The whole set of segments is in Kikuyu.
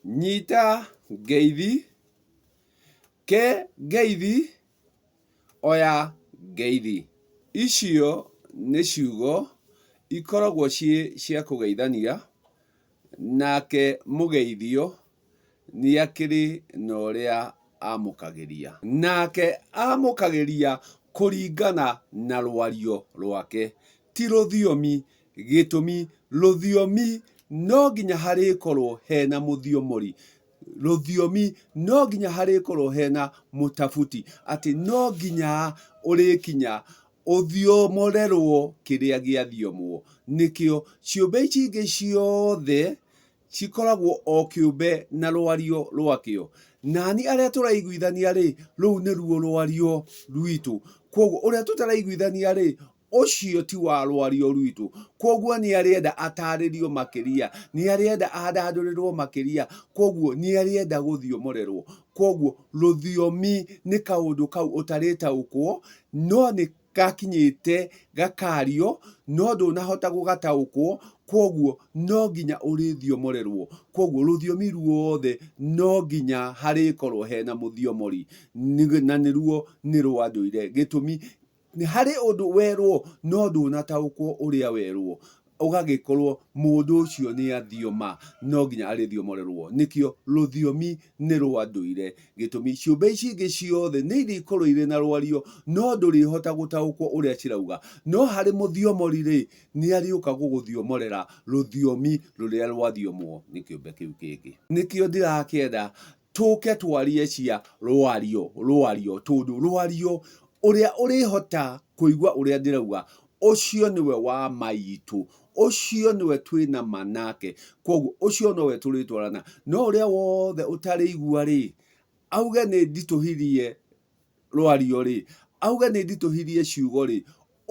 Nyita ngeithi, ke ngeithi, oya ngeithi. Icio nĩ ciugo ikoragwo ciĩ cia kũgeithania, nake mũgeithio nĩ akĩrĩ na ũrĩa amũkagĩria. Nake amũkagĩria kũringana na rwario rwake, Ti rũthiomi. Gĩtũmi, rũthiomi no nginya harĩkorwo hena mũthiomori. Rũthiomi no nginya harĩkorwo hena mũtabuti. Atĩ no nginya ũrĩkinya ũthiomorerwo kĩrĩa gĩathiomwo. Nĩkĩo, ciũmbe ici ingĩ ciothe cikoragwo o kĩũmbe na rwario rwakĩo. Nani arĩa tũraiguithania-rĩ, rũu nĩruo rwario rwitũ. Kwoguo ũrĩa tũtaraiguithania-rĩ, ũcio ti wa rwario rwitũ. Kwoguo nĩarĩenda atarĩrio makĩria, nĩarĩenda andandũrĩrwo makĩria, kwoguo nĩarĩenda gũthiomorerwo. Kwoguo rũthiomi nĩ kaũndũ kau ũtarĩtaũkwo, no nĩ gakinyĩte gakaario no ndũnahota gũgataũkwo kwoguo no nginya ũrĩthiomorerwo. Kwoguo rũthiomi ruothe no nginya harĩkorwo hena mũthiomori na nĩruo nĩ rwa ndũire. Gĩtũmi, harĩ ũndũ werwo no ndũnataũkwo ũrĩa werwo. ũgagĩkorwo mũndũ ũcio nĩ athioma, no nginya arĩthiomorerwo. Nĩkĩo rũthiomi nĩ rwa ndũire. Gĩtũmi, ciũmbe ici ingĩ ciothe nĩ irĩkorwo irĩ na rwario, no ndũrĩhota gũtaũkwo ũrĩa cirauga. No harĩ mũthiomori-rĩ, nĩ arĩũka gũgũthiomorera rũthiomi rũrĩa rwathiomwo nĩ kĩũmbe kĩu kĩngĩ. Nĩkĩo ndirakĩenda Tũke twarie cia rwario, rwario, tondũ rwario, ũrĩa ũrĩhota kũigua ũrĩa ndĩrauga, ũcio nĩwe wa maitũ, ũcio nĩwe twĩ na ma nake, kwoguo ũcio nowe tũrĩtwarana. No ũrĩa wothe ũtarĩigua-rĩ, auge nĩnditũhirie rwario-rĩ, auge nĩnditũhirie ciugo-rĩ,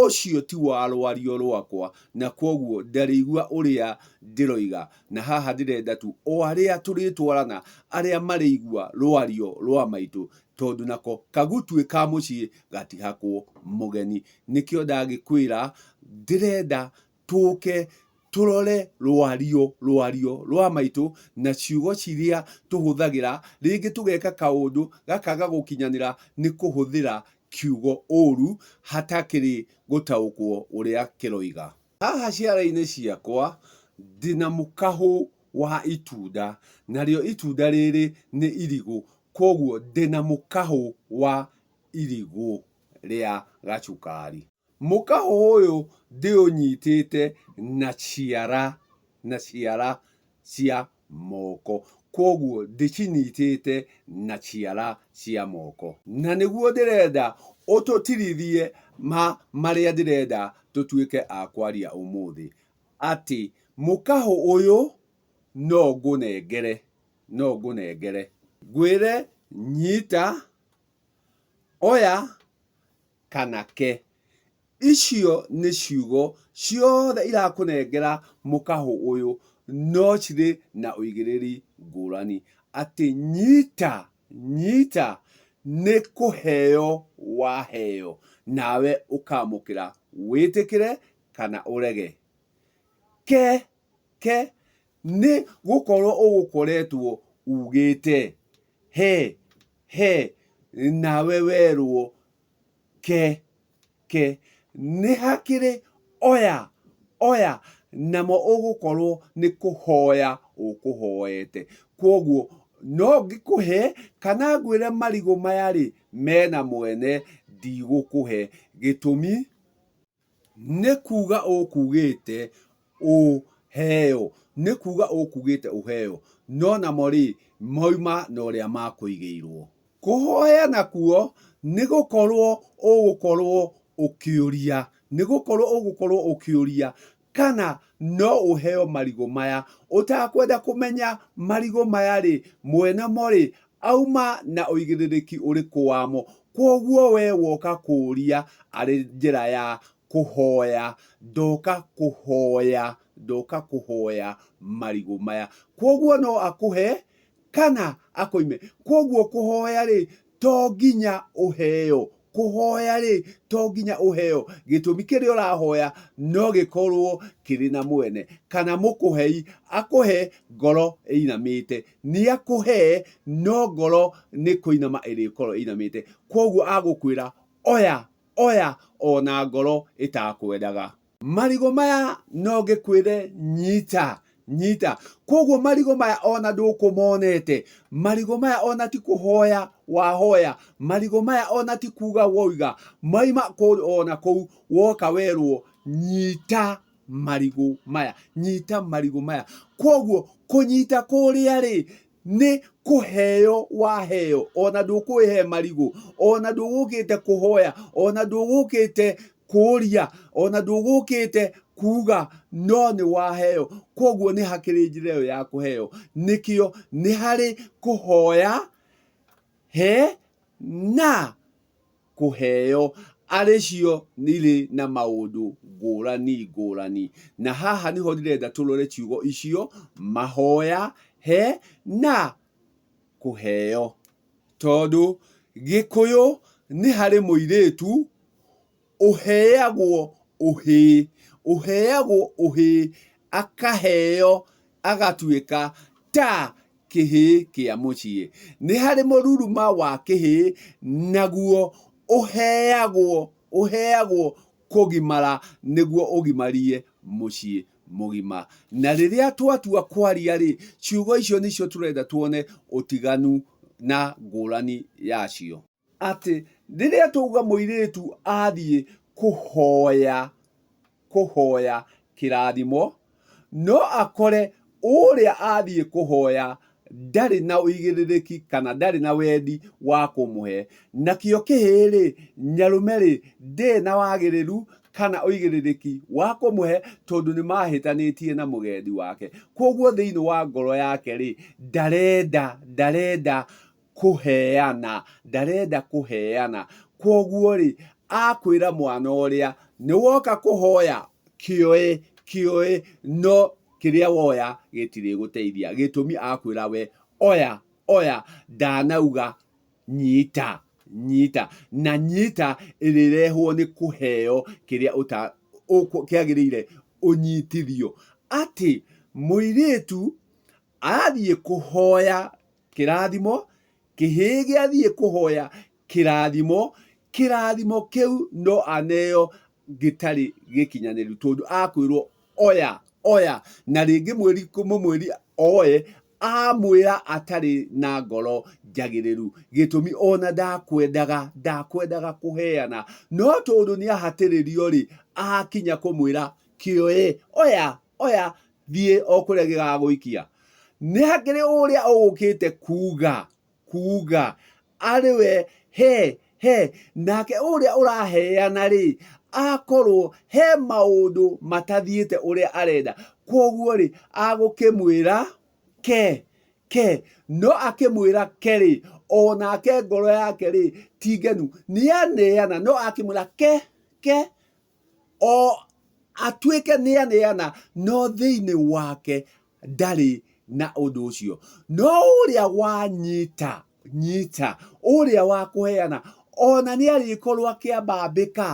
ũcio ti wa rwario rwakwa, na kwoguo ndarĩigua ũrĩa ndĩroiga, na haha ndĩrenda tu o arĩa tũrĩtwarana, arĩa marĩigua rwario rwa maitũ, tondũ nako kagutwi ka mũciĩ gatihakwo mũgeni. Nĩkĩo ndagĩkwĩra ndĩrenda tũke tũrore rwario rwario rwa maitũ na ciugo ciria tũhũthagĩra rĩngĩ tũgeka kaũndũ gakaga gũkinyanĩra nĩ kũhũthĩra kiugo ũru hatakĩrĩ gũtaũkwo ũrĩa kĩroiga haha ciara-inĩ ciakwa ndĩna mũkahũ wa itunda narĩo itunda rĩrĩ nĩ irigũ koguo ndĩna mũkahũ wa irigũ rĩa gacukari. Mũkaho ũyũ ndĩũnyitĩte na ciara, na ciara cia moko. Kwoguo ndĩcinyitĩte na ciara cia moko. Na nĩguo ndĩrenda ũtũtirithie ma marĩa ndĩrenda tũtuĩke a kwaria ũmũthĩ. Atĩ mũkaho ũyũ no ngũnengere, no ngũnengere. Ngwĩre nyita, oya. kana ke. Icio nĩ ciugo ciothe irakũnengera mũkahũ ũyũ no cirĩ na ũigĩrĩri ngũrani. Atĩ nyita, nyita nĩ kũheo waheo nawe ũkamũkĩra wĩtĩkĩre kana ũrege. Ke, ke nĩ gũkorwo ũgũkoretwo ugĩte. He. He, nawe werũo, Ke, ke. Nĩ hakĩrĩ, Oya, oya, namo ũgũkorũo nĩ kũhoya ũkũhoete. Kwoguo, no ngĩkũhe, kana ngwĩre marigũ maya-rĩ, mena mwene, ndigũkũhe. Gĩtũmi? Nĩ kuuga ũkuugĩte ũheo. Nĩ kuuga ũkuugĩte ũheo. No namo-rĩ, moima na ũrĩa makũigĩirwo. Kũhoya nakuo nĩ gũkorwo ũgũkorwo ũkĩũria. Nĩ gũkorwo ũgũkorwo ũkĩũria. kana no ũheo marigũ maya. Ũtakwenda kũmenya marigũ maya rĩ, mwene mo rĩ, auma na ũigĩrĩrĩki ũrĩkũ wamo. Kwoguo we woka kũũria arĩ njĩra ya kũhoya, ndoka kũhoya, ndoka kũhoya marigũ maya. Kwoguo no akũhe kana akũime. Kwoguo kũhoya rĩ, to nginya ũheo. Kũhoya-rĩ, to nginya ũheo. Gĩtũmi kĩrĩa ũrahoya no gĩkorwo kĩrĩ na mwene, kana mũkũhei akũhe ngoro ĩinamĩte. Nĩakũhe, no ngoro nĩ kũinama ĩrĩkorwo ĩinamĩte. Kuoguo agũkwĩra oya, oya, ona ngoro ĩtakwendaga. Marigũ maya no ngĩkwĩre nyita nyita. Kwoguo marigũ maya ona ndũkũmonete, marigũ maya ona ti kũhoya wahoya, marigũ maya ona ti kuga woiga, maima kũrĩ ona kũu woka werwo nyita marigũ maya, nyita marigũ maya. Kwoguo kũnyita kũrĩa-rĩ, nĩ kũheo waheo ona ndũkũĩhe marigũ ona ndũgũkĩte kũhoya ona ndũgũkĩte kũũria ona ndũgũkĩte kuuga no nĩ waheo kwoguo nĩ hakĩrĩ njĩra ĩyo ya kũheo nĩkĩo nĩ harĩ kũhoya he na kũheo arĩ cio nĩirĩ na maũndũ ngũrani ngũrani. Na haha nĩho ndĩrenda tũrore ciugo icio, mahoya, he, na kũheo. Tondũ Gĩkũyũ nĩ harĩ mũirĩtu ũheagwo ũhĩĩ, ũheagwo ũhĩĩ akaheo agatuĩka ta kĩhĩĩ kĩa mũciĩ. Nĩ harĩ mũruruma wa kĩhĩĩ, naguo ũheagwo ũheagwo kũgimara nĩguo ũgimarie mũciĩ mũgima. Na rĩrĩa twatua kwaria-rĩ, ciugo icio nĩcio tũrenda tuone ũtiganu na ngũrani yacio. atĩ rĩrĩa twauga mũirĩtu athiĩ kũhoya, kũhoya kĩrathimo, no akore ũrĩa athiĩ kũhoya ndarĩ na ũigĩrĩrĩki kana ndarĩ na wendi wa kũmũhe. Nakĩo kĩhĩĩ-rĩ, nyarũme-rĩ, ndĩrĩ na wagĩrĩru kana ũigĩrĩrĩki wa kũmũhe tondũ nĩmahĩtanĩtie na mũgendi wake. Kuoguo thĩiniĩ wa ngoro yake-rĩ, ndarenda, ndarenda kũheana, ndarenda kũheana. Kwoguo-rĩ, akwĩra mwana ũrĩa, nĩwoka kũhoya, kĩoe, kĩoe, no kĩrĩa woya gĩtirĩgũteithia. Gĩtũmi akwĩra we, oya, oya, ndanauga nyita, nyita. Na nyita ĩrĩrehwo nĩ kũheo kĩrĩa kĩagĩrĩire ũnyitithio. Atĩ mũirĩtu athiĩ kũhoya kĩrathimo kĩhĩge athiĩ kũhoya kĩrathimo kĩrathimo kĩu no aneo gĩtarĩ gĩkinyanĩru tondũ akwĩrwo oya oya na rĩngĩ mwĩri mũmwĩri oe amwĩra atarĩ na ngoro njagĩrĩru gĩtũmi ona ndakwendaga ndakwendaga kũheana no tondũ nĩ ahatĩrĩrio rĩ akinya kũmwĩra kĩoe oya oya thiĩ o kũrĩa gĩgagũikia nĩ hakĩrĩ ũrĩa ũgũkĩte kuga kuga arĩ we he he nake ũrĩa ũraheana rĩ akorwo he maũndũ matathiĩte ũrĩa arenda kwoguo rĩ agũkĩmwĩra ke ke no akĩmwĩra ke rĩ o nake ngoro yake rĩ ti ngenu nĩ aneana no akĩmwĩra ke ke o atuĩke nĩ aneana no thĩinĩ wake ndarĩ na ũndũ ũcio no ũrĩa wanyita nyita ũrĩa wa kũheana ona nĩ arĩkorwo akĩambambĩka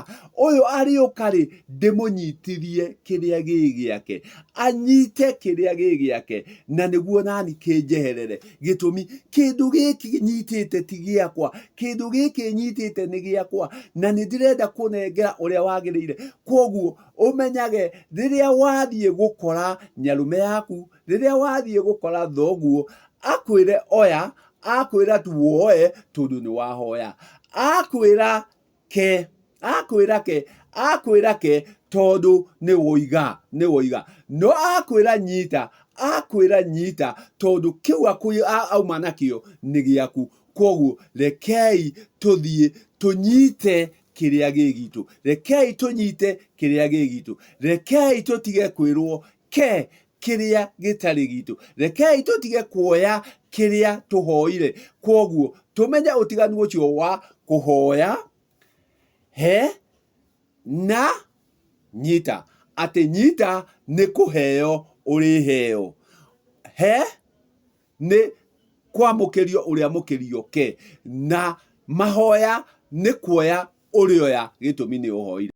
ũyũ arĩũka rĩ ndĩmũnyitithie kĩrĩa gĩ gĩake anyite kĩrĩa gĩ gĩake na nĩguo nani kĩnjeherere. gĩtũmi kĩndũ gĩkĩ nyitĩte ti gĩakwa kĩndũ gĩkĩ nyitĩte nĩ gĩakwa na nĩ ndĩrenda kũnengera ũrĩa wagĩrĩire kwoguo ũmenyage rĩrĩa wathiĩ gũkora nyarume yaku rĩrĩa wathiĩ gũkora thoguo akwĩre oya akwĩra tu woe tondũ nĩ wahoya akwĩra ke akwĩra ke akwĩra ke tondũ nĩ woiga nĩ woiga no akwĩra nyita akwĩra nyita tondũ kĩu akũ- a- auma nakĩo nĩ gĩaku kwoguo rekei tũthiĩ tũnyite kĩrĩa gĩ gitũ rekei tũnyite kĩrĩa gĩ gitũ rekei tũtige kwĩrwo reke kĩrĩa gĩtarĩ gitũ rekei tũtige kuoya kĩrĩa tũhoire kwoguo tũmenye ũtiganu ũcio wa kũhoya he na nyita atĩ nyita nĩ kũheo ũrĩheo he nĩ kwamũkĩrio ũrĩa mũkĩrio ke na mahoya nĩ kuoya ũrĩoya gĩtũmi nĩ ũhoire